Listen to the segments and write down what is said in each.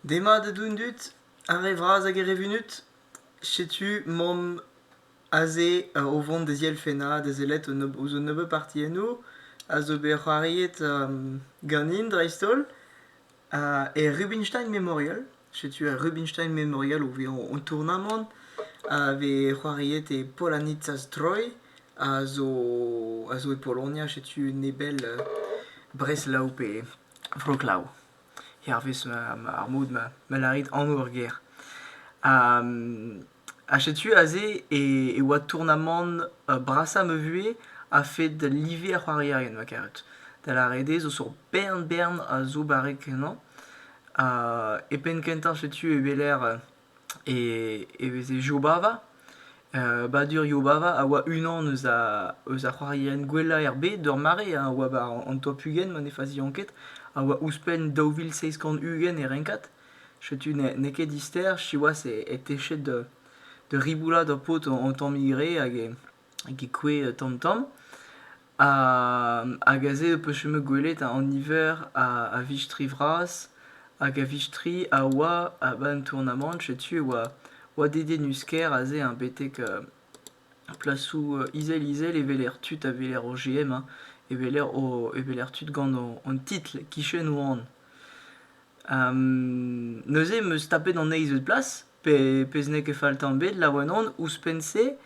Demat eo d'an dud, ar re vras hag ar re vunut. Setu mamm aze o vont da zielfennañ, da sellet ouzh un nebeud partiennoù a zo bet c'hoariet ganin dreist-holl, er Rubinstein Memorial. Setu ar Rubinstein Memorial o vezañ an tournamant a vez c'hoariet e Polonitza-Stroy, a zo e Polonia. Setu nebell Breslav pe... Vro glav. Hervez ma, ma- ar mod ma, ma lârit anv ur gêr. Ha setu aze e, e oa tournamant brasañ ma vuhez a-fed live ar c'hoarierien, ma karet. Da lâret eo, zo sur bern-bern a zo barrek ennañ. E penn kentañ setu e weler e e veze Jobava. Uh, badurioù Bava a oa unan eus a eus ar c'hoarierien gwellañ er bed ur mare a oa ba an top ugent ma ne fazian ket a oa ouzhpenn daou vil seizh kant ugent e renkad. Setu n'eo ket dister siwazh e techet da da riboulat ar paotr an tammig re hag e Git kouezh tamm-tamm. Hag aze e po chomet gwelet an niver a vistri vras. Hag a vistri a oa a-benn tournamant. Setu e oa dedienus-kaer aze hein betek plasoù izel-izel e weler tud a weler o GM hein, e weler tud gant an titl kichen wan. neuze 'm eus tapet an eizh eus plas. pe pezh n'eo ket fall tamm ebet, laouen on. Ouzhpenn-se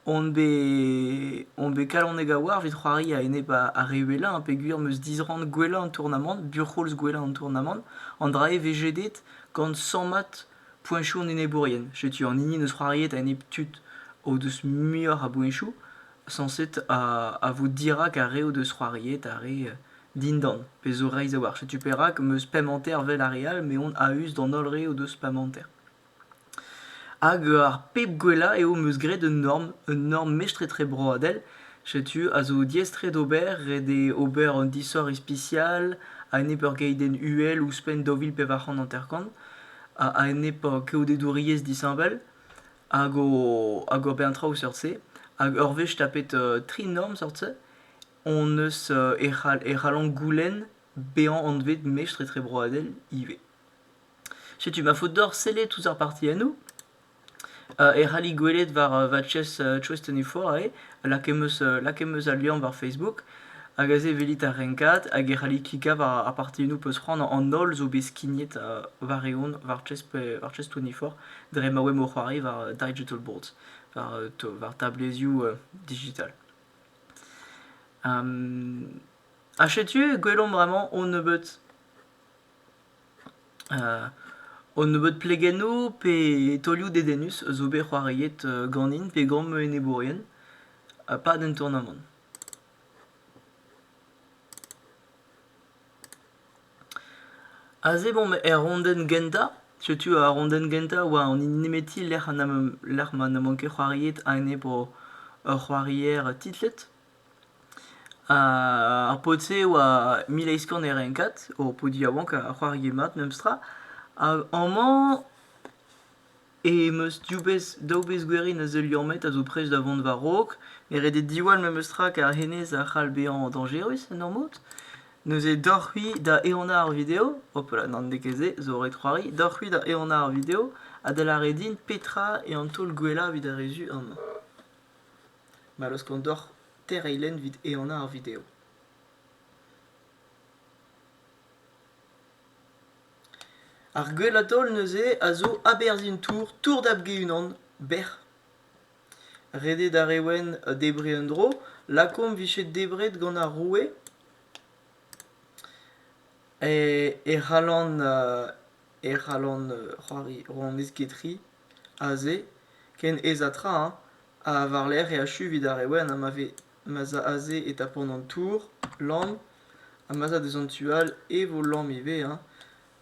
on bet on bet kalonek a-walc'h evit c'hoari a-enep ar re uhelañ peogwir 'm eus disrann gwellañ an tournamant, buc'houlz gwellañ an tournamant. An dra-se 'vez jedet gant sammad poeñchoù an enebourien. Setu an hini 'neus c'hoariet a-enep tud o deus muioc'h a boeñchoù sañset a vo dirak ar re o deus c'hoariet, ar re Dindan, pe zo reizh a-walc'h. Setu perak am eus pemp hanter 'vel ar re all, me on a-us d'an holl re o deus pemp hanter. Hag ar pep gwellañ eo 'm eus graet un norm, un norm mestr-etre broadel. Setu, a zo diaes-tre d'ober, ret eo ober un disoc'h ispisial a-enep ur geidenn uhel ouzhpenn daou vil pevar c'hant hanter-kant, a-enep keodedouriezh disheñvel, hag o hag ober traoù seurt-se. Hag ur wech tapet tri norm seurt-se, hon eus e c'hall e c'hallomp goulenn bezañ anvet mestr etrebroadel ivez. Setu ma faot deoc'h sellet tous ar partiennoù. Uh, e c'halli gwelet war uh, va chest uh, Trust and Euphorae, lakaet eus uh, al liamm war Facebook, hag aze evelit ar renkad, hag e c'halli klikañ war ar partiennoù peus c'hoant an holl zo bet skignet uh, war-eeun war chest, war chest 24 dre ma oemp o c'hoari war digital boards, war, uh, war tablezioù uh, digital. Ha setu gwelomp bremañ hon nebeud hon nebeud plegennoù pe taolioù dedennus zo bet c'hoariet ganin pe gant ma enebourien pad an tournamant. Aze bon er rondenn gentañ, setu ar rondenn gentañ oa an hini nemeti lec'h ma n'emañ ket c'hoariet ane bo ur c'hoarier titlet. Ar paotr-se oa mil eizh kant e renkad, ho po yaouank a c'hoarie mat memestra. Hag amañ. em eus div bezh, daou bezh gwerin a zeu liammet a zo prest da vont war-raok. Me redet diwall memestra kar hennezh a c'hall bezañ dañjerus en ur mod. Neuze deoc'h-c'hwi da ehanañ ar video. Hopala, n'an ket se, zo ret c'hoari. Deoc'h-c'hwi da ehanañ ar video ha da lâret din petra eo an taol gwellañ evit ar re zu amañ. Ma laoskont deoc'h tereiñ lenn evit ehanañ ar video. Ar gwella taol neuze a zo aberzhin tour Tour Dab-Ge-Unan, bec'h. Redet ar re wenn debriñ un dro, lakaomp 'vije debret gant ar roue e e c'hallan e c'hallan c'hoari rouanez Ketri aze ken aes ha tra hein ha war-lerc'h e achu evit ar re wenn ha ma vez ma'z a aze e tapont an tour, lann, ha ma'z a deus an tu all e vo lamm ivez, hein.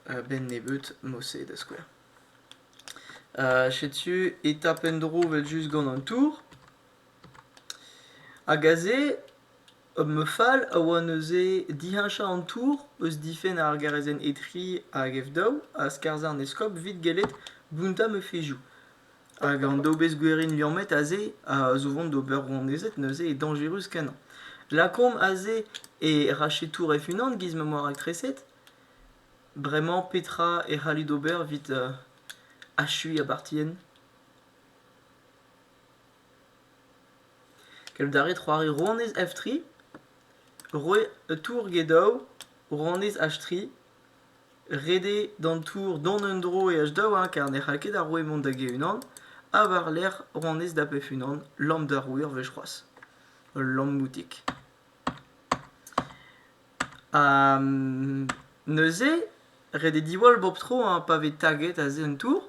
A-benn nebeut, mod-se da skouer. setu e tap en-dro evel-just gant an tour. Hag aze, ma fal a oa neuze diheñchañ an tour eus difenn ar garezenn E3 hag F2 ha skarzhañ an eskob 'vit gellet bountañ ma fezhioù. Hag an dobez gwerin liammet aze a zo 'vont d'ober rouanezed neuze eo dañjerus kenañ. Lakaomp aze e rachetour hec'h-unan giz ma 'm boa raktreset. Bremañ petra e c'hallit ober evit achuiñ ar bartienn? Keldare c'hoari rouanez F3. Roe tour get daou rouanez H3. Ret eo d'an tour dont en-dro eaj daouarn kar ne c'hall ket ar roue mont da ge-unan, ha war-lerc'h ronez da bep-unan, lamm d'ar roue ur wech c'hoazh. Ul lammoutig. Ha neuze, ret eo diwall bep tro pa vez taget aze an tour,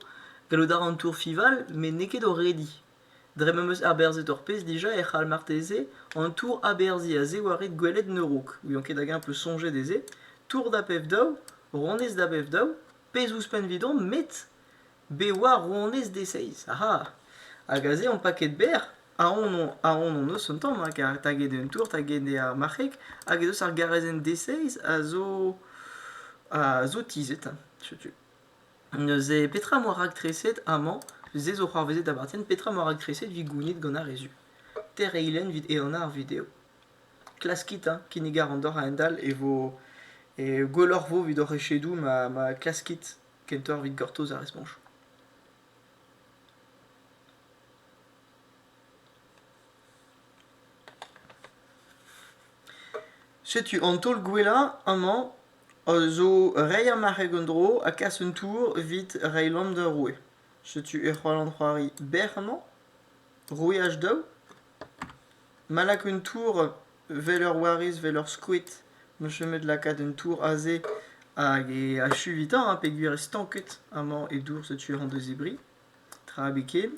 gallout a ra an tour fival met n'eo ket o rediñ. Dre m'em eus aberzhet ur pezh dija e c'hall marteze an tour-aberzhiñ a-ziwarek gwelet Nerouk, n'ouion ket hag-eñ 'peus soñjet dezhe, tour da pev-daou, ronez da bev-daou, pezh ouzhpenn 'vidon met bet war ronez D6 aha! Hag aze on paket berr, ahont on ahont on eus un tamm rak taget eo an tour, taget eo ar marc'heg hag ez eus ar garezenn D6 a zo a zo tizhet, setu. Neuze, petra 'moa raktreset amañ? Se zo c'hoarvezet da Bartén, petra 'moa raktreset 'vit gounit gant ar re zu? Tereilenn 'vit ehanañ ar video. Klaskit hein, kinnig a ran deoc'h a-hend-all e vo e gwelloc'h 'vo 'vit hoc'h echedoù ma ma klaskit kentoc'h 'vit gortoz ar respoñch. Setu an taol gwellañ amañ. zo reiñ ar marc'heg en-dro ha kas un tour evit reiñ lamm d'ur roue. Setu e c'hoar an c'hoari berr amañ. Roueaj daou. Ma lak un tour vel ur wariz, vel ur skoed, on eus chomet lakaat un tour aze hag e achu evitañ ha peogwir eo stanket amañ e dour setu e c'hont da zebriñ. Tra ebet ken.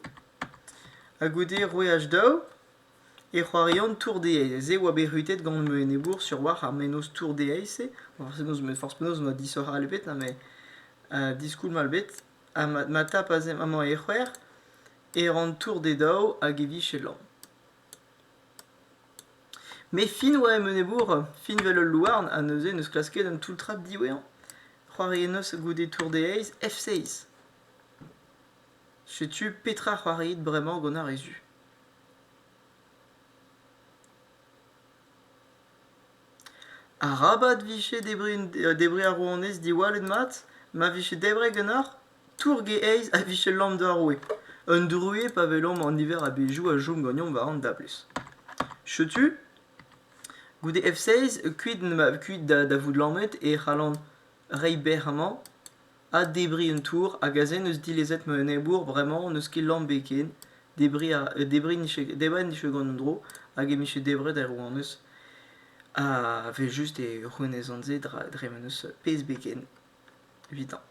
Ha goude roueaj daou. E c'hoarian tour-dezhaezh eo oa bet rutet gant ma enebour sur-walc'h ar mennozh tour-dezhaezh-se, forzh penaos met forzh penaos ma disoc'hal bet ha ma diskoulmall bet ha ma tapas amañ e c'hwec'h e ran tour d'e daou hag e vije lamm. Met fin oa em enebour, fin 'vel ul louarn ha neuze n'eus klasket un toull-trad diwezhañ. C'hoariennoz goude tour-dezhaezh F6. Setu petra c'hoariit bremañ gant ar re zu. Arabat 'vije debriñ ar rouanez diwallet mat ma vije debret ganeoc'h tourge-eizh a vije lamm d'ar roue. Un druez pa welomp an niver a bezhioù a chom ganeomp war an dablez. Setu, goude F-16, kuit da vout lammet e c'hallan reiñ bec'h amañ. addebriñ un tour hag aze n'eus dilezet ma enebour bremañ n'eus ket lambe ken debriñ a debriñ nije debriñ 'nije gant un dro hag e mije debret er rouanez ha evel-just e c'hwenezan se dra dre ma n'eus pezh beken evitañ.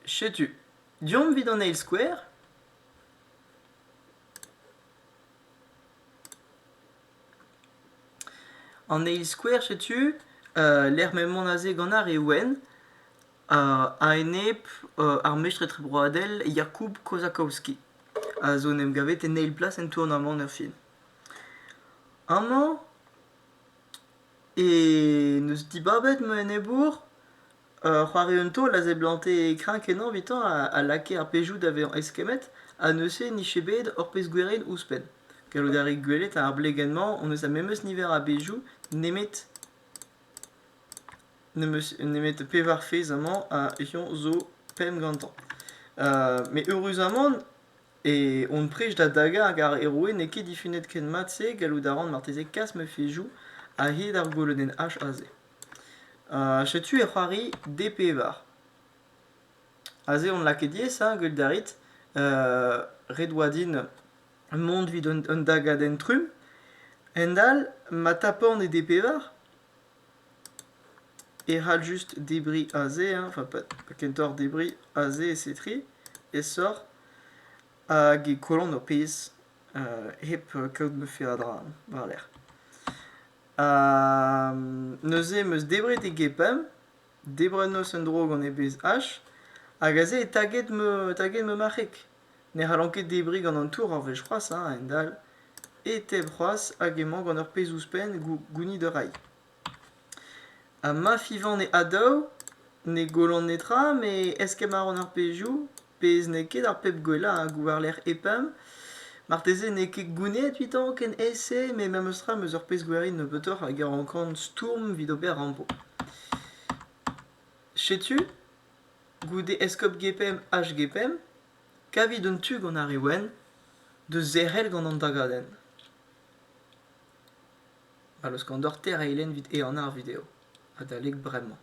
Setu, deomp evit an eil skouer. An eil skouer setu lec'h m'emaon aze gant ar re wenn a-enep ar mestr etrebroadel Jakub Kozakowski a zo en em gavet en eil plas en tournamant erfin. Amañ e n'eus dibabet ma enebour Ur c'hoarier taol a seblante kreñv-kenañ evitañ a lakae ar pezhioù da vezañ eskemmet ha neuze e nije bet ur pezh gwirion ouzhpenn. Gallout a rit gwelet ar blegenn-mañ hon eus ar memes niver a bezhioù nemet nemet pevar fezh amañ ha eñ zo pemp gantañ. Met eüruzamant e hon prij da dagañ hag ar heroe n'eo ket difunet ken mat-se gallout a ran marteze kas ma fezhioù a-hed ar golodenn H aze. Setu e c'hoari D-Pevar. Aze on lakaet diaes hein, get Darit. ret oa din mont evit un un dagadenn trumm. A-hend-all ma tapan e D-Pevar e c'hall just debriñ aze hein, enfin pas kentoc'h debriñ aze e C3 aesoc'h hag e kollan ho pezh hep kaout ma fe a dra war-lerc'h. Ha neuze em eus debret e gepemp, debret 'neus un dro gant e bezh H, hag aze eo taget ma taget ma marc'heg. Ne c'hallan ket debriñ gant an tour ar wech c'hoazh hein, a-hend-all. E-teb c'hoazh hag emañ gant ur pezh ouzhpenn gou- gounit ur railh. Ha ma fivan e a daou, ne gollan netra, met eskemm a ran ar pezhioù. pezh n'eo ket ar pep gwellañ hag war-lerc'h EPAM. Marteze n'eo ket gounezet evitañ ken ese, met memes tra m'eus ur pezh gwerin nebeutoc'h hag e rankan stourm evit ober rampo. Setu, goude eskob GPM HGPM, kavit un tu gant ar re wenn da zerc'hel gant an dagadenn. Ma laoskan deoc'h tereiñ evit ehanañ ar video. Adalek bremañ.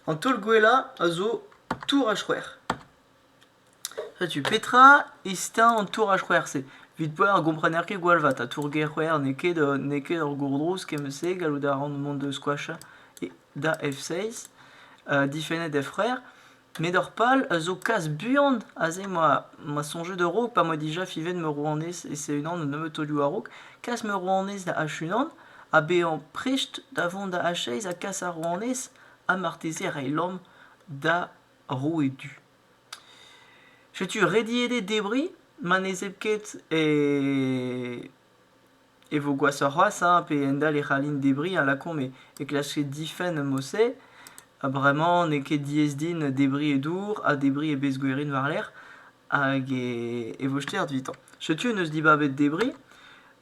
An taol gwellañ a zo tour a c'hwec'h. Setu petra estañ an tour a c'hwec'h-se. Evit poell a gomprener ket gwall vat. Ha tour-gêr c'hwec'h n'eo ket, euh, n'eo ket ur gourdrouz kement-se. Gallout a ran mont da squashañ da F6, euh, difennet F c'hwec'h. Met ur pal a zo kas buan aze ma, ma soñjet a-raok pa 'moa dija fivet ma rouanez e C-Unan an nebeud taolioù a-raok, kas ma rouanez da H-Unan ha bezañ prest da vont da H-Aez ha kas ar rouanez ha marteze reiñ lamm da roue du. Setu rediet eo debriñ ma ne zeu ket e E vo gwashoc'h c'hoazh hein pe endalc'h e c'hallin debriñ a lakaomp e klaske difenn mod-se ha bremañ n'eo ket diaes din debriñ e dour ha debriñ e bezgwerin war-lerc'h hag e vo stert evitañ. Setu en deus dibabet debriñ.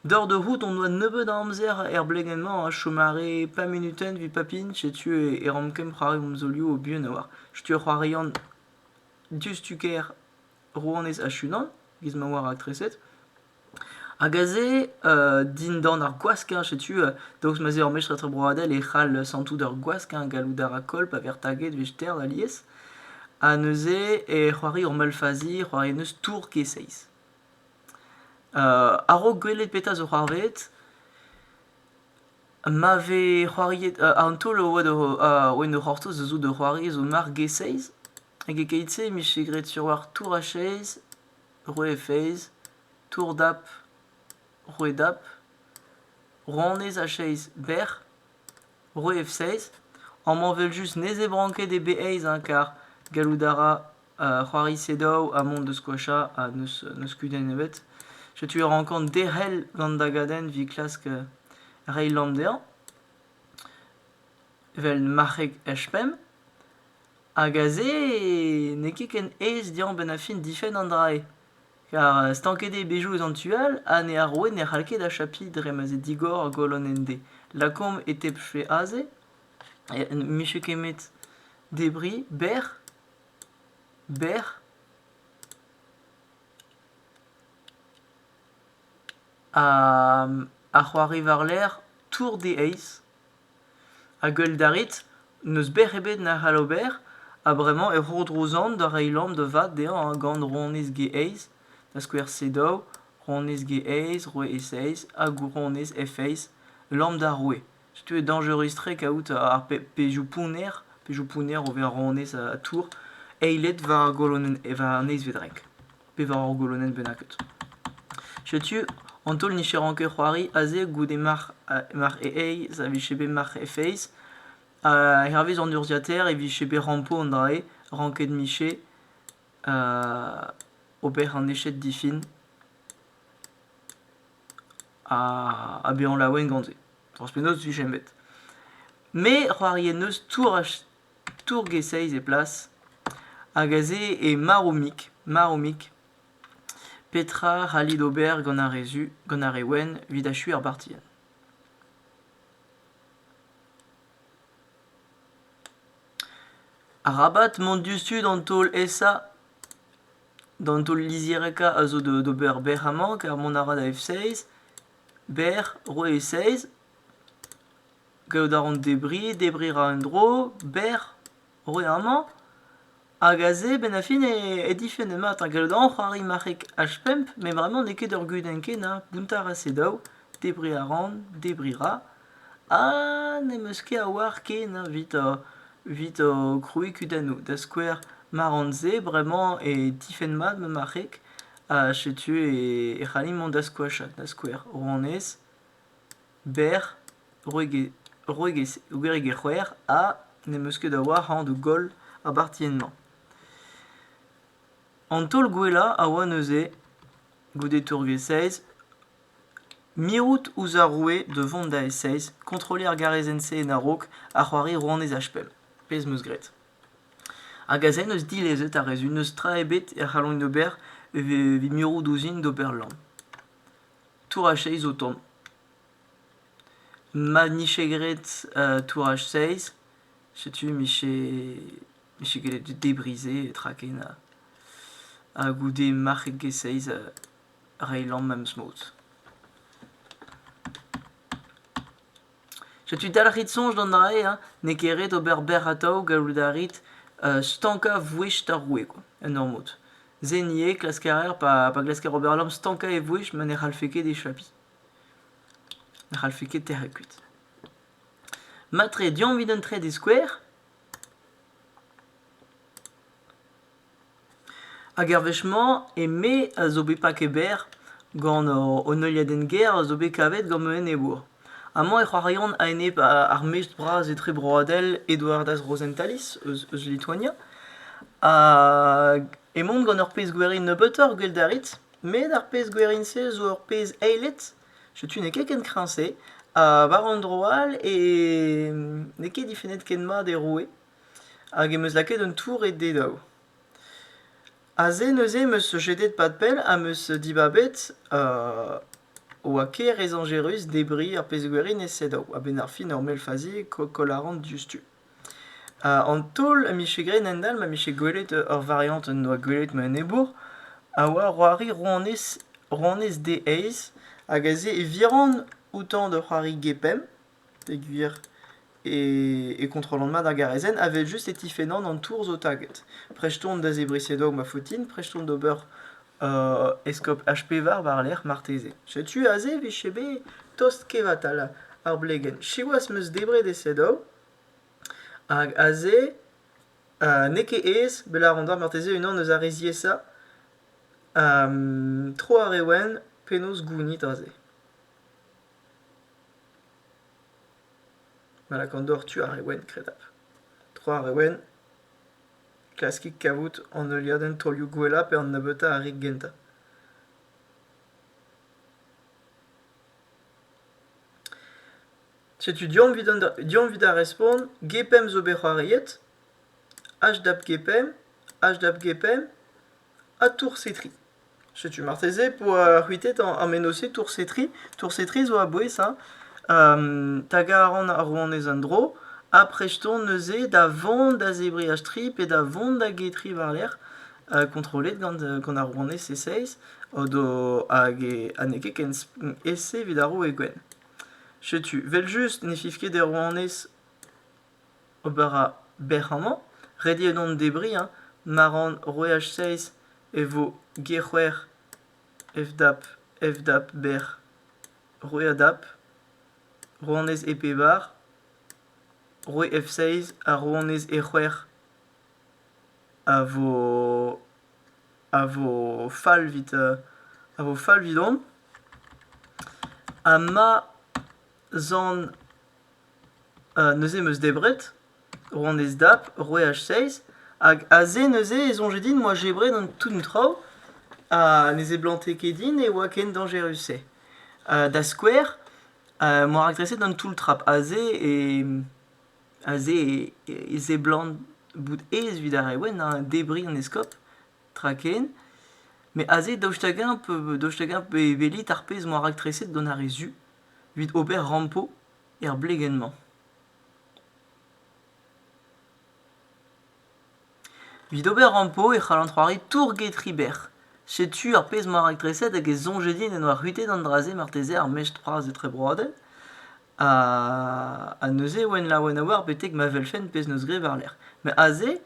Doc'h da c'hoût hon doa nebeut a amzer er blegenn-mañ a chom arre pemp munutenn evit papin setu e rank kemp c'hoari hon zaolioù o buan a-walc'h. Setu ur c'hoarian diouzhtu ker. rouanez Ashunan, giz ma oa raktreset. Hag aze, euh, dindan ar gwaskern, setu, euh, daoust ma 'z eo ur mestr etrebroadel e c'hall santout ur gwaskern gallout a rakol pa vez taget vester alies. Ha neuze e c'hoari ur malfazi, c'hoari n'eus tour ket seiz. Euh, a-raok gwelet petra zo c'hoarvet, ma vez c'hoariet... euh, an taol a oa da... a oa en ur c'hortoz zo de c'hoari zo mark ge seiz, Hag e-keit-se e vije graet sur-walc'h Tour Achez, Roue Feiz, Tour Dap, Roue Dap, Rouanez Achez bec'h, Roue Efseiz. Amañ evel-just ne zebran ket eo bet aes hein, kar gallout a ra c'hoari sedaou ha mont da skoachañ ha n'eus n'eus kudenn ebet. Setu e rankan derc'hel gant da gadenn evit klask reiñ lamm dezhañ, evel marc'heg H pemp. Hag aze n'eo ket ken aes dezhañ benn-ar-fin difenn an dra-se. Ker stanket eo bezioù eus an tu all ha ne ar roue ne c'hall ket achapiñ dre ma 'z eo digor ar golonenn D. Lakaomp e tebfe aze, ne vije kemet debriñ berr, berr, ha c'hoari war-lerc'h tour D-eizh. Ha gwelet a rit, n'eus bec'h ebet na c'hall ober, ha bremañ e roudro zant da reiñ lamm da vat dezhañ gant ronez G-eizh, da skouer C-daou, ronez G-eizh, roue E-seizh, hag ronez F-eizh, lamm d'ar roue. Setu eo dañjerus-tre kaout ar pe- pezhioù pounner, pezhioù pounner o vezañ ronez ha tour, eilet war golonenn, war an eizhvet renk. pevar eur golonenn bennaket. Setu, an taol nicheran ket c'hoari aze goude marc'h, marc'h e eiz a vije bet marc'h e feiz. Ha hervez an urzhiataer e vije bet rampo an dra-se, ranket miche, ober an eched difin, ha, ha bezañ laouen gant se. Forzh penaos, 'vije bet. Me c'hoarie n'eus tour tourg e-seizh e plas, hag aze eo marv-mik, marv-mik. Petra 'c'hallit ober gant ar re zu, gant ar re wenn, evit achuiñ ar bartienn? Arabat mont diouzhtu d'an taol esa. D'an taol lizhirekañ a zo d'ober bec'h amañ, kar mont a ra da F6. Bec'h, roe e-seizh. Kaout a ran debriñ, debriñ a ra un dro, berr, roet amañ. Hag aze, benn ar fin, e difenn mat. Ha gallout a ran c'hoari marc'heg H-pump, met vraiment n'eo ket ur gudenn ken hein. Bountañ a ra se daou, debriñ a ran, debriñ ra. Ha n'em eus ket a oar ken hein, evit ho evit ho krouiñ kudennoù. Da skouer, ma ran se bremañ e difenn mat ma marc'heg, ha setu e e c'hallin mont da skoachat da skouer. Rouanez. berr gwregek c'hwec'h ha n'em eus ket a-walc'h a anv goll ar bartienn-mañ. An taol gwellañ a oa neuze, goude tourvez-seiz, mirout ouzh ar roue da vont da e-seiz, kontrolliñ ar garezenn-se en a-raok ha c'hoari rouanez Achpell, pezh 'm eus graet. Hag aze n'eus dilezet ar re-se, n'eus tra ebet e c'hallont ober evit mirout ouzhin d'ober lamm. Touraj-seiz o tont. Ma nije graet touraj-seiz, setu mije mije gellet debriñ-se tra ken ha ha goude marc'het get seiz reiñ lamm ma 'm eus mod. Setu dalc'hit soñj gant aze hein, n'eo ket ret ober bec'h atav gallout a rit stankañ vouezh ar roue kwa, en ur mod. Se ivez klask a raer pa pa glasker ober lam stankañ e vouezh ma ne c'hallfe ket echapiñ. Ne c'hallfe ket tec'het kuit. Mat-tre, deomp evit un trede skouer. Hag er wech-mañ, eme a zo bet paket berr gant an heuliadenn-gêr a zo bet kavet gant an enebour. Amañ e c'hoariont a-enep ar mestr bras etrebroadel Eduardas Rosentalis eus, eus Lituania. Hag emaon gant ur pezh gwerin nebeutoc'h gwell a rit, met ar pezh gwerin-se zo ur pezh eilet, setu n'eo ket ken kreñv-se, ha war un dro all e n'eo ket difennet ken mat e roue. hag em eus lakaet un tour e dedaou. Aze neuze em eus jedet pad-pell ha em eus dibabet e oa ker ezañjerus debriñ ar pezh-gwerin e sedaou a-benn ar fin ur mell fazi koll a ran diouzhtu. An taol a mije graet a-hend-all ma mije gwelet ur variant en doa gwelet ma enebour a oa c'hoari rouanez rouanez D-Aez hag aze e viran outañ da c'hoari Gepemp. Pegwir e kontrollan mat ar garazenn evel-just e tifennan an tour zo taget. Prest on da zebriñ sedog ma faotine, prest on d'ober eskob HP war war-lerc'h marteze. Setu aze vije bet tost kevatal ar blegenn. Siwazh 'm eus debret e sedog hag aze n'eo ket aes lâret on marteze unan eus ar re ziaesañ. tro ar re wenn, penaos gounit aze? Ma lakaont doc'h tu ar re wenn, kredabl. Tro ar re wenn, klaskit kavout an heuliadenn taolioù gwellañ pe an nebeutañ ar re gentañ. Setu deomp evit ar respont gpemp zo bet c'hoariet, hdap gpemp, hdap gpemp, ha toursetri. Setu marteze e po uh, c'hwitet an mennozh-se toursetri. Toursetri zo a-bouez hein. tagañ a ran ar rouanez en-dro ha prest on neuze da vont da zebriñ a-stri pe da vont da getri war-lerc'h kontrollet gant gant ar rouanez e-seizh hag e- ha n'eo ket ken e-se evit ar roue gwenn. Setu 'vel-just ne fiv ket er rouanez Ober a bec'h amañ. Ret eo dont debriñ hein. Ma ran roueaj seizh e vo g-c'hwec'h f-dap f-dap bec'h. Roueadap, rouanez e pevar, roue f-seizh ha rouanez e-c'hwec'h a vo a vo fall 'vit a vo fall 'vidon. Ha ma zan neuze 'm eus debret rouanez Dap c'hwec'h seizh hag aze neuze e soñje din 'moa debret an tout traoù ha ne seblante ket din e oa ken dañjerus-se. da skouer moa rakreset an toull trap aze e aze e seblant bout aes evit ar re wenn hein debriñ an eskob tra ken met aze daoust hag-eñ daoust hag-eñ e welit ar pezh moa raktreset gant ar re zu? evit ober rampo er blegenn-mañ. Evit ober rampo e c'hallan c'hoari tour-get Riber. Setu ar pezh 'mañ raktres-se hag e soñje din en doa c'hwitet an dra-se marteze ar mestr-c'hoaz etrebroadel. Ha neuze e oan laouen a-walc'h betek ma welfen pezh 'neus graet war-lerc'h. Met aze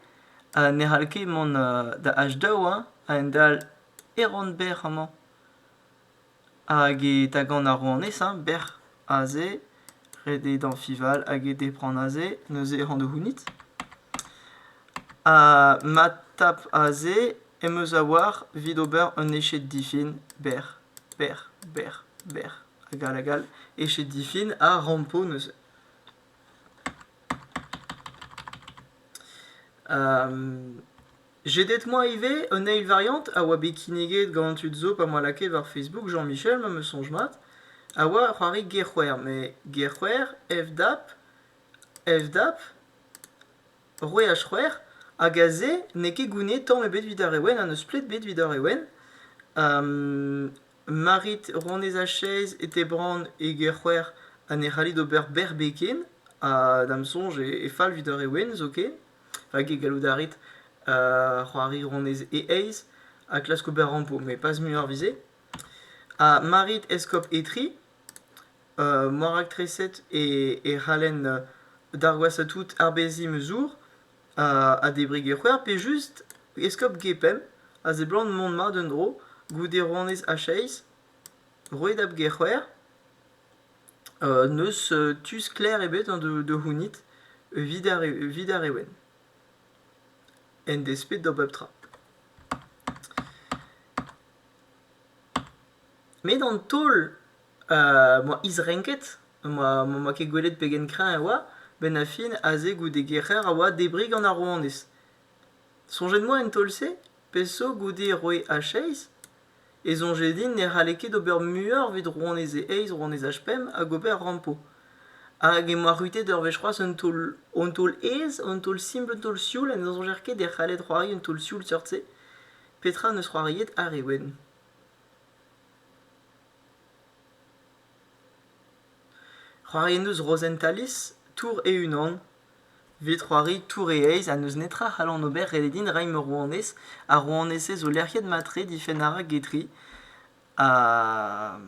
ne c'hall ket mont da h daou, hein, a-hend-all, Eron-Berr amañ. Hag e tagan ar rouanez hein, bec'h aze, ret eo dañfival hag e depran aze, neuze ran da c'hounit. Ha ma tap aze em eus a-walc'h evit ober un eched difin bec'h, bec'h, bec'h, bec'h hag all hag all, eched difin ha rampo neuze. Jedet 'moa ivez un eil variant a oa bet kinniget gant an tud zo pa 'moa lakaet war Facebook Jean-Michel, ma 'meus soñj mat, a oa ur c'hoari Gerc'hwer, met Gerc'hwer, FDAP, FDAP, roue ar c'hwec'h, hag aze n'eo ket gounid tamm ebet evit ar re wenn ha n'eus plet bet evit ar re wenn. Marit Ronez-Achèze e Tebrann e Gerc'hwer ha ne c'hallit ober berbeg ken ha da'm soñj e fall evit ar re wenn zoken. Hag e gallout a rit c'hoari honnezh e-eizh ha klask ober rampo, met pas muioc'h 'vit se. Ha ma rit eskob Etri, ma raktreset e c'hallen d'ar gwashañ tout arbeziñ ma zour ha debriñ e c'hwer pe just eskob Gepemp a seblant mont mat un dro goude rouanez Achaiz, roet ab Gec'hwer. N'eus tu sklaer ebet an da da c'hounit evit ar evit ar re wenn, en desped da bep tra. Met an taol a oa isrenket, ma m'oa ket gwelet pegen kreñv e oa, 'benn ar fin aze goude gerc'her a oa debriñ gant ar rouanez. Soñjet 'moa en taol-se peseurt goude roe H-Eis ? E soñje din ne c'halle ket ober muioc'h evit rouanez e eizh, rouanez H-pemp hag ober rampo. Hag emañ arrutet ur wech c'hoazh un taol un taol aes, un taol simpl, un taol sioul ha ne soñjer ket e c'halled c'hoari un taol sioul seurt-se. Petra 'neus c'hoariet àr e ouenn ? C'hoariet 'neus Rozenn Talis, Tour e-unan. Evit c'hoari tour e eizh ha n'eus netra a c'hallan ober ret eo din reiñ ma rouanez. Ar rouanezez zo lec'hiet mat-tre difenn a ra Guidry ha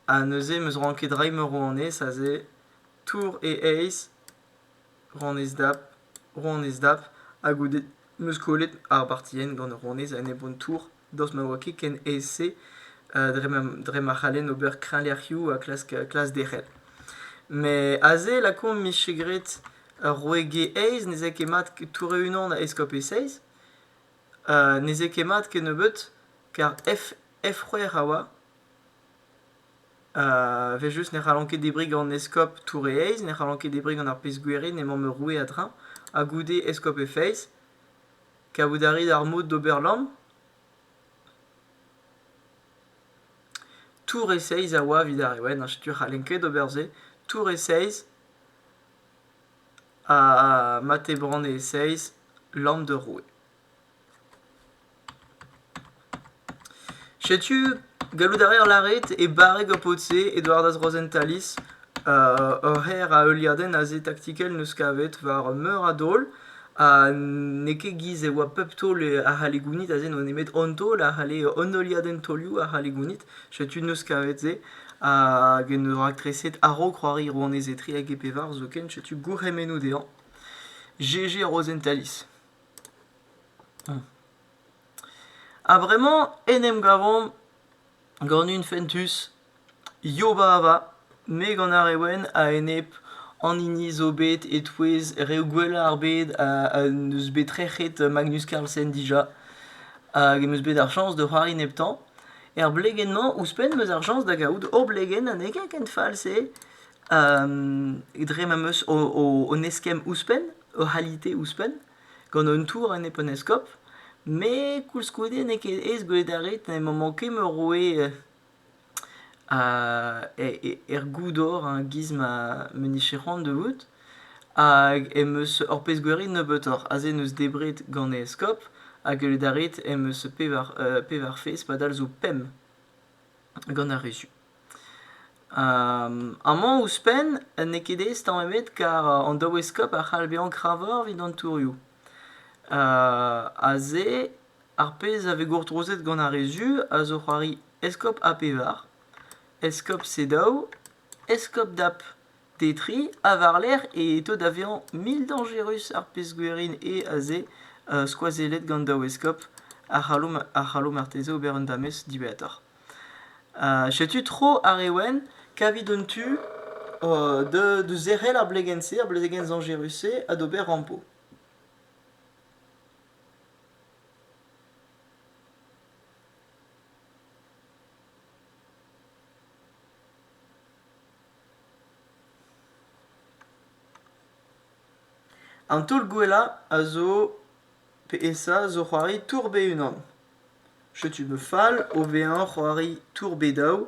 ha neuze em eus c'hoant ket reiñ ma rouanez aze tour e eizh, rouanez dap, rouanez dap, ha goude 'm eus kollet ar bartienn gant ur rouanez enep hon tour. daoust ma oa ket ken aes-se dre ma c'hallen ober kreñvlec'hioù ha klask derc'hel. Met aze lakaomp 'mije graet ur roue-ge aes, ne zay ket mat tourrañ unan da eskob e-seizh. ne zay ket mat kennebeut kar F-c'hwec'h a oa. Evel-just ne c'hallan ket debriñ gant eskob tourrañ aes, ne c'hallan ket debriñ gant ar pezh-gwir eo n'emaomp roue a-dreñv, ha goude eskob e-feiz. Kavout a rit ar mod d'ober lamm ? Tour e seizh a oa evit ar Rewenn, ha setu c'hallen ket ober se. Tour e seizh, ha mat eo banne e seizh, lamm d'ur roue. Setu, gallout a reer lâret e barreg ar pod-se e doaredas Rosentalis ur c'her a heuliadenn aze taktikel 'neus kavet war meur a daol ha n'eo ket giz e oa pep taol a c'halle gounit aze n'oa nemet an taol a c'halle an heuliadenn taolioù a c'halle gounit setu 'neus kavet se hag en deus raktreset a-raok c'hoari rouanez etre hag e pevar zoken setu gourc'hemennoù dezhañ GG Rosentalis. A-vremañ en em gavomp gant un fentus Yobava, me gant ar re wenn a-enep an hini zo bet e-touez reoù gwellañ ar bed ha n'eus bet trec'het Magnus Carlsen dija hag em eus bet ar chañs da c'hoari neptañ. Er blegenn-mañ ouzhpenn 'm eus ar chañs da gavout hor blegenn anezhañ ken fall-se dre ma 'm eus hon eskemm ouzhpenn, hor c'halite ouzhpenn. gant un tour en heptaneskob. Met koulskoude n'eo ket aes gwelet a rit. N'emañ manket ket ma roue er goudor giz ma vije c'hoant da vout. Hag em eus ur pezh gwerin nebeutoc'h. Aze n'eus debret gant e eskob. Ha gwelet a rit em eus pevar fezh padal zo pemp gant ar re zu. Amañ ouzhpenn n'eo ket aes tamm ebet kar an daoueskob a c'hall bezañ kravoc'h evit an tourioù. Aze ar pezh a vez gourtrozet gant ar re zu a zo c'hoari eskob A pevar, eskob C daou, eskob D ap D tri ha war-lerc'h e to da vezañ mil dañjerus ar pezh gwerin eo aze skoazellet gant daoueskob a c'hallo marteze ober un damez diwezhatoc'h. Setu tro ar re wenn kavit an tu da zerc'hel ar blegenn-se, ar blegenn zañjerus-se ha d'ober rampo. An taol gwellañ a zo, pe esa, zo c'hoari tour be unan. Setu ma fal o vezañ c'hoari Tour Bedaou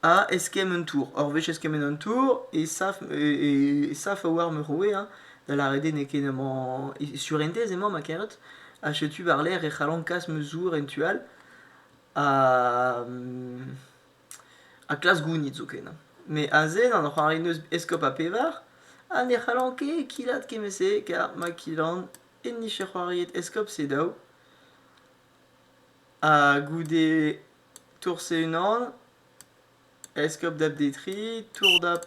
ha eskemm un tour. Ur wech eskemmet an tour e sav e sav a-walc'h ma roue hein, da lâret eo n'eo ket emañ sur entez emañ ma karet ha setu war-lerc'h e c'hallan kas ma zour en tu all ha ha klask gounit zoken hein. Met aze an c'hoari 'neus eskob ha pevar ha ne c'hallan ket kilat kement-se kar ma kilan enni c'hoariet Eskob Sedaou. Ha goude Tour Seheunan, Eskob Dap Detri, Tour Dap,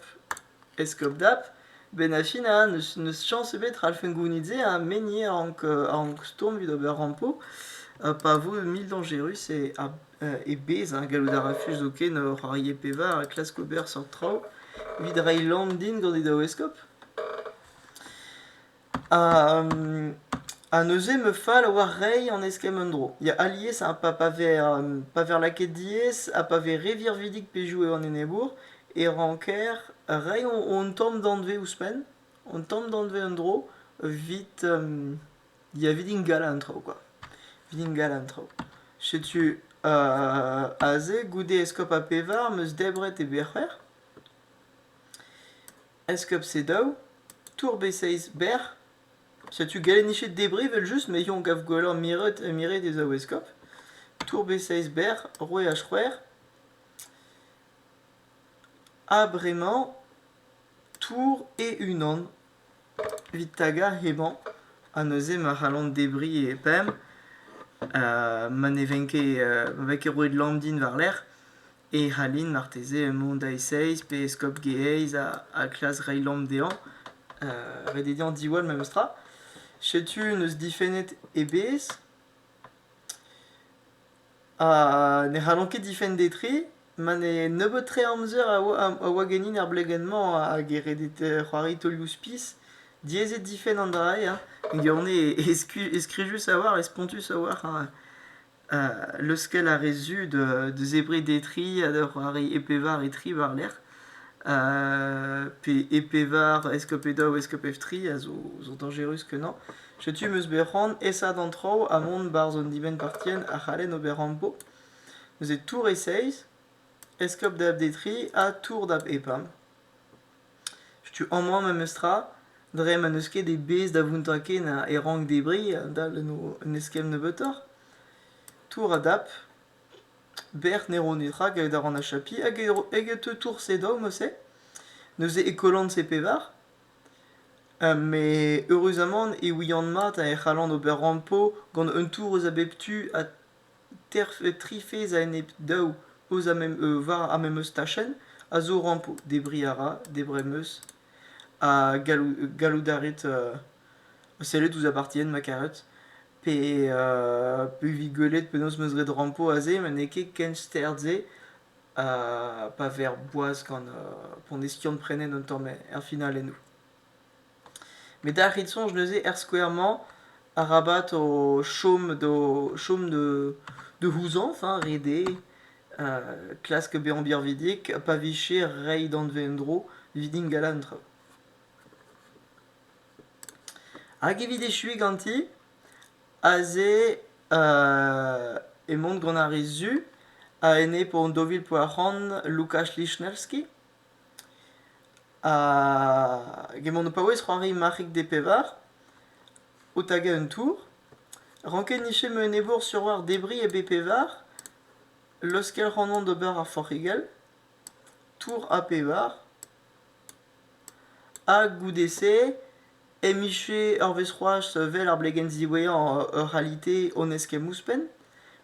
Eskob Dap. Benafin ha n'eus n'eus chañs ebet ralfent gounit se ha menniñ a rank a rank stourm evit ober rampo uh, pa vo mil dañjerus e ar e bez hein, gallout a rafus zoken uh, c'hoarier pevar ha klask ober seurt traoù evit reiñ lamm din gant e daou eskob. Ha neuze ma fal a oa reiñ an eskemm en-dro. Ya, alies ha pa pa vez pa vez lakaet diaes ha pa vez re virvidik pezhioù eo an enebour e ranker reiñ an tamm danvez ouzhpenn, an tamm danvez en-dro evit diavidign galañ an traoù kwa, evit galañ an traoù. Setu aze goude eskob ha pevar 'm eus debret e berc'her. Enskub C daou, Tour B6 berr. Setu Galennichet debri evel-just, met on gav gwelloc'h miret, miret e zaou eskop. Tour B6 berr, roue h c'hwec'h. Ha bremañ, tour e-unan. Evit tagañ hemañ, ha neuze ma c'hallont debriñ e pemp. ma ne ven ket, ma ven ket roet Landin war-lerc'h. e c'hallin marteze mont a-esaez pe eskob Geaiz ha klask reiñ lamm dezhañ. ret eo dezhañ diwall memestra. Setu n'eus difennet ebet. Ha ne c'hallon ket difenn d'e tri. Ma ne nebeut-tre amzer a oa ganin er blegenn-mañ hag e redet c'hoari taolioù-spis. Diaezet difenn an dra-se. Gant-se e skrijus a-walc'h, e spontus a-walc'h. leuskel a rez zu da zebriñ d'he tri ha da c'hoari e pevar e tri war-lerc'h. pe e pevar eskob e daou eskob F tri a zo dañjerus kenañ. Setu m'eus bet c'hoant esa d'an traoù ha mont 'barzh an dibenn-partien a c'hallen ober ampo. Neuze tour e seizh, eskob da F D tri ha tour da F pump. Setu amañ memestra, dre ma n'eus ket e bez da vountañ ken a- e rank debriñ a-dal en o un eskemm nebeutoc'h. Tour a dap, bec'h ne ro netra gallout a ran achapiñ hag e- eget teu tourse daou mouse, neuze e kollan-se pevar. met eüruzamant e ouian mat e c'hallan ober rampo gant un tour eus a bep tu ha tri fezh a-enep daou eus ar memes tachenn a zo rampo. Debriñ a ra, debriñ am eus. Ha gallout a rit sellet ouzh apartien ma karet. Pe evit gwelet penaos 'm eus graet rampo aze ma n'eo ket ken stern-se pa ver boaz gant pont Estian-Prenen un tamm er finale eno. met a rit soñj neuze er skouer-mañ arabat o chom d'o chom da c'houzañv hein ret eo klask bezañ birvidik pa vije reiñ danvez en-dro evit ingal an traoù. Hag evit echuiñ ganti aze emaon gant ar re zu a-enep hon daou vil pevar c'hant Lukas Lichnowsky. Gement ho paouez c'hoari marc'hig D pevar, o tagañ un tour, ranket niche ma enebour sur war debriñ e B pevar, laoskel c'hoant d'ober ar forc'higell, tour A pevar, ha goude-se Emiche ur wezh c'hoazh well ar blegenn ziwezhañ ur c'halite hon eus ken ouzhpenn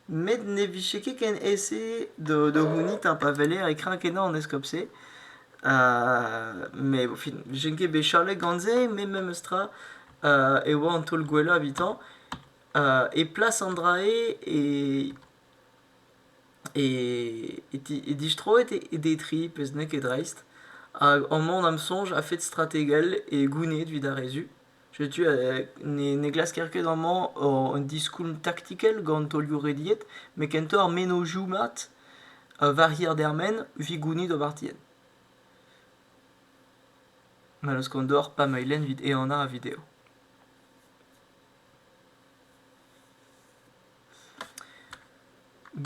met ne vije ket ken aes-se da c'hounit ha pa weler e kreñv-kenañ an eskob-se. Met au fin, vije ket bet chalet gant se met memes tra e oa an taol gwellañ evitañ e plas an dra-se e e, e distroet e detri, pezh n'eo ket dreist. Hag amañ d'am soñj a-fet strategel e gounid evit ar re zu. Setu ne, ne glasker ket amañ un diskoulm taktikel gant taolioù rediet, met kentoc'h ar mennozhioù mat war hir-dermen evit gounid o bartienn. Ma laoskan deoc'h pa ma lenn evit ehanañ ar video.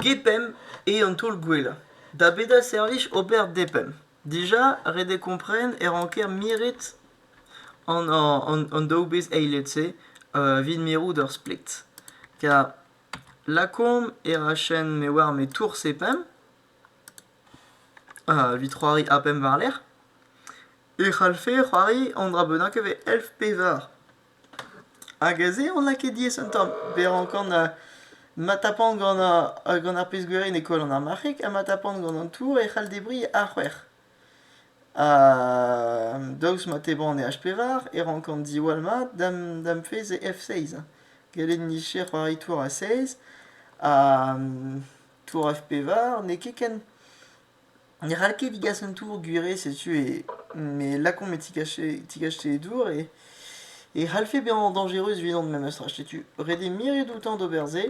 Gepemp eo an taol gwellañ da bet ar servij ober depemp. Dija ret eo kompren e ranker miret an daou bezh eilet-se evit mirout ur splet. Kar lakaomp e rachenn me oar me tours epemp evit c'hoari apemp war-lerc'h. E c'hallfe c'hoari an dra bennak evel elf pevar. Hag aze on lakaet diaes un tamm, bet rankan ma tapan gant ar pezh gwirion e koll an armarc'heg ha ma tapan gant an tour e c'hall debriñ ar c'hwec'h. daoust ma teban e H pevar e rankan diwall mat da'm fezh e F seizh. Gellet micher c'hoari tour A seiz ha tour F pevar n'eo ket ken. Ne c'hall ket digas an tour gwiriz setu e me lakaomp e tigache tigache e dour e e c'hallfe bezañ dañjerus evidon memestra setu ret eo miret outañ d'ober se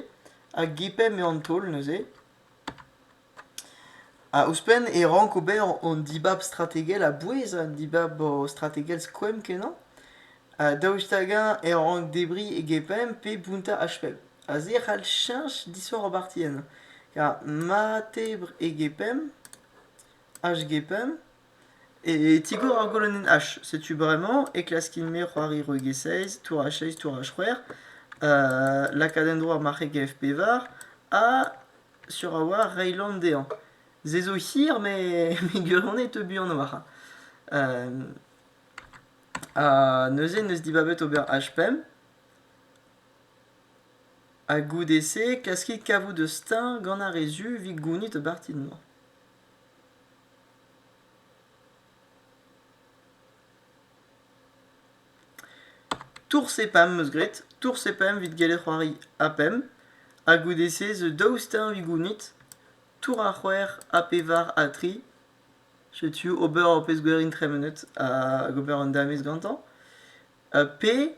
hag e-pemp eo an taol neuze ha ouzhpenn e rank ober an dibab strategel a-bouez an dibab strategel skoemp-kenañ Daoust hag-eñ e rank debriñ e gepemp pe bountañ HP? Aze e c'hall cheñch disoc'h ar partienn. Kar mat eo debr e gepemp, HGPemp, e tigor ar golonenn H. Setu bremañ e klaskin-me c'hoari roeg e seiz, tour H seiz, tour H c'hwec'h, lakaat en-dro ar marc'heg F pevar ha sur a-walc'h reiñ lamm dezhañ. Se zo hir met gueulc'honnez e teu buan a-walc'h. Ha neuze en deus dibabet ober H5. Ha goude-se, klaskit kavout eus steuñv gant ar re zu evit gounit o bartid-mañ. Tours e pemp eus graet, tours e pemp evit gellet c'hoari a pemp, ha goude-se zo daou steuñv evit gounit, tour a c'hwec'h, a pevar, a tri, Setu ober ur pezh gwerin tremenet hag ober un danvez gantañ. pe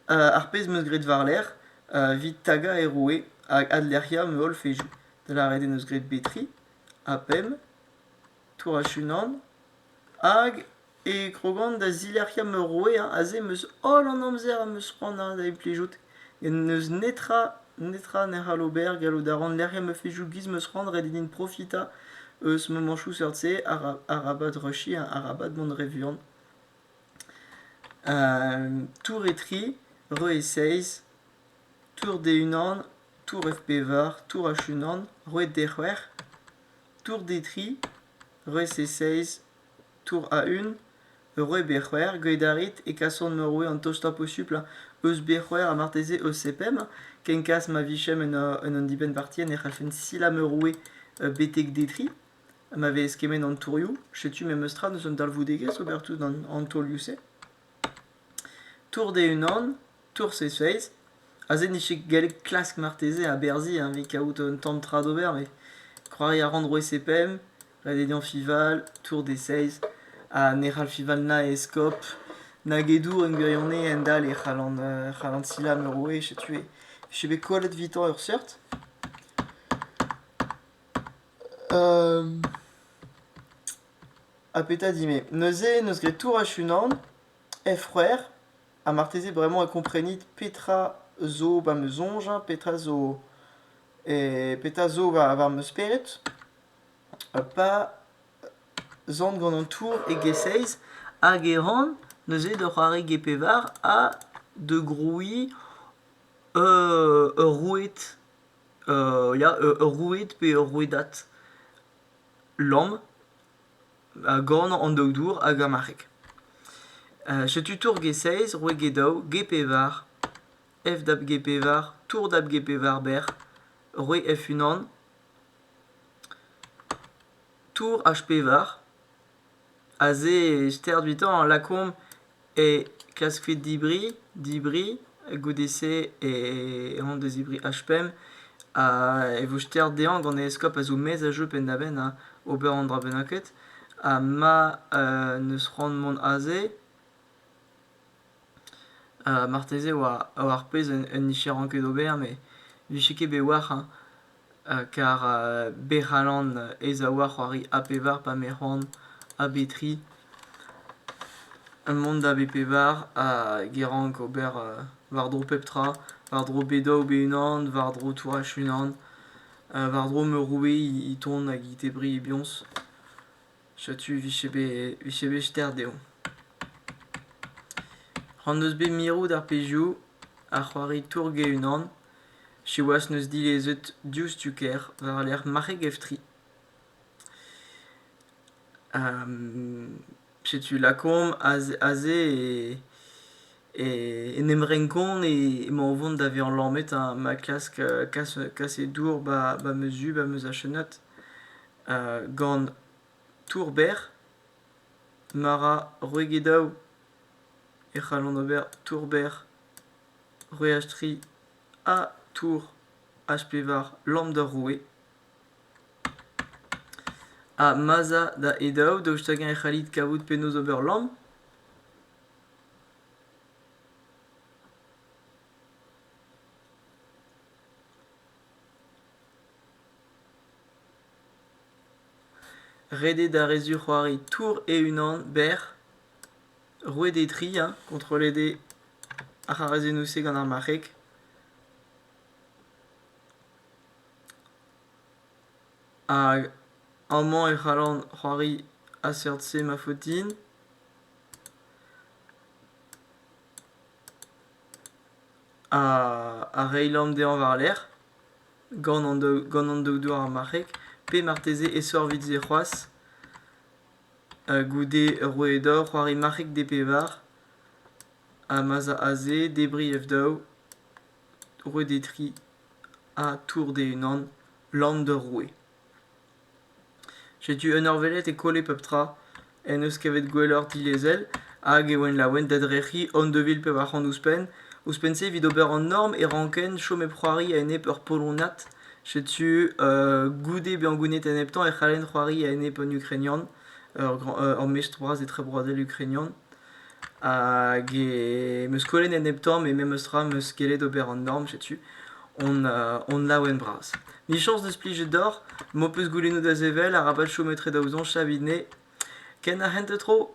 ar pezh 'm eus graet war-lerc'h evit tagañ e roue hag adlec'hiañ ma holl fezhioù. Da lâret en deus graet Betri, ha pemp, Tour-Achunan hag... e krogan da zilec'hiañ ma roue. Aze em eus holl an amzer am eus c'hoant ha da implijout. N'eus netra netra ne c'hall ober. Gallout a ran lec'hiañ ma fezhioù giz ma eus c'hoant ret eo din profitañ eus mamañchoù seurt-se. Arabat rushiñ, arabat mont re vuan. tour e-tri, re e seizh, tour d'e-unan, tour F-pevar, tour H-unan, re d'e-c'hwec'h, tour d'e-tri, re e seizh, Tour a-un, roue Berc'hwec'h, graet a rit e kasan ma roue an tostañ posuplañ eus Berc'hwec'h ha marteze eus Sepem. Ken kas ma vijem en ur en un dibenn-parti ne c'hallfen silañ ma roue betek detriñ ma vez kement an tourioù. Setu memes tra deus un dalvoudegezh ober tout an taolioù-se. Tour d'e-unan, Tour Seizh-Feiz, aze n'eo ket gallet klask marteze aberzhiñ evit kaout un tamm tra d'ober met c'hoari a ran roue CPM, La Dédéan Fival, Tour des Seize ha ne c'hall Fival na eskob nag e dour en gwirionez endalc'h e c'hallan e c'hallan silañ ma roue setu e vije bet kollet evitañ ur seurt. Ha petra dit-me ? Neuze n'eus graet tourach unan, hec'h c'hwec'h, ha marteze bremañ e komprenit petra zo va 'm eus soñj, petra zo petra zo va va ma spered, pa zont gant an tour e-giz-seiz hag e ran neuze da c'hoari ge-pevar ha da grouiñ ur roued ya ur roued pe ur rouedad. Lamm, a gorn an doktour hag ar marc'heg. Uh, setu tour G6, roue G daou, G pevar, F dab G pevar, tour dab G pevar bec'h, roue F unan, tour H pevar, Aze e sterz evitañ lakaomp e klask kuit dibriñ dibriñ goude-se on da zibriñ H-pemp ha e vo sterz dezhañ gant e eskob a zo maez a jeu penn-da-benn ha ober an dra bennaket ha ma n'eus c'hoant mont aze marteze 'oa ar pezh un nicheran ket ober met 'vije ket bet war hein. kar bec'h alan ez a oa c'hoari A pevar pa me c'hoant A bet tri mont da B pevar ha get rank ober war-dro pep tra war-dro bet daou be unan war-dro tourach unan war-dro me roue e ton hag e tebree bihañs. Setu vije bet, vije bet ster dezhoñ. C'han deus bet mirout ar pezhioù a c'hoari Tourg e-unan. Siwazh n'eus dilezet diouzhtu ker war-lerc'h marc'heg Eftri. setu lakaomp aze en em renkont emañ o vont da vezañ lammet ma klask kaset dour 'ba ma zu 'ba ma zachenad. gant tour-berr ma ra roegedaoù e c'hallont ober tour-berr roeachtri ha tour HP war lambda roue ha ma'z a da edaoù daoust hag-eñ e c'hallit kavout penaos ober lamm Ret eo d'ar re zic'hoari tour e-unan berr. Roet eo tri hein, kontrollet eo ar c'harazennoù-se gant ar marc'heg. Hag amañ e c'hallan c'hoari a-seurt-se ma faot din. Ha reiñ lamm dezhañ war-lerc'h. gant an daou douar marc'hek, pe marteze e sorvit-se c'hoazh goude rouedor c'hoari marc'hek D-pevar ha ma'z a aze debriñ F-daou, roet eo tri ha tour d-unan, lamm d'ur roue. Setu un eur welet e kolle pep tra en deus kavet gwelloc'h dilezel hag e oan laouen d'adrec'hiñ hon devil pevar c'hant ouzhpenn. Ouzhpenn-se evit ober an norm e ranken chom hep c'hoari a-enep ur polonad. Setu goude bezañ gouennet eneptañ e c'hallen c'hoari a-enep un ukrainian, ur grand ur mestr bras etrebroadel ukrainian. Hag e meus kollet en nep tamm, e memes tra meus gellet ober an dorn setu on laouen bras. Michañs deus plijet deoc'h, m'ho peus goulennoù da sevel, arabat chom etre daou soñj, savit-ne. Ken ar c'hentañ tro?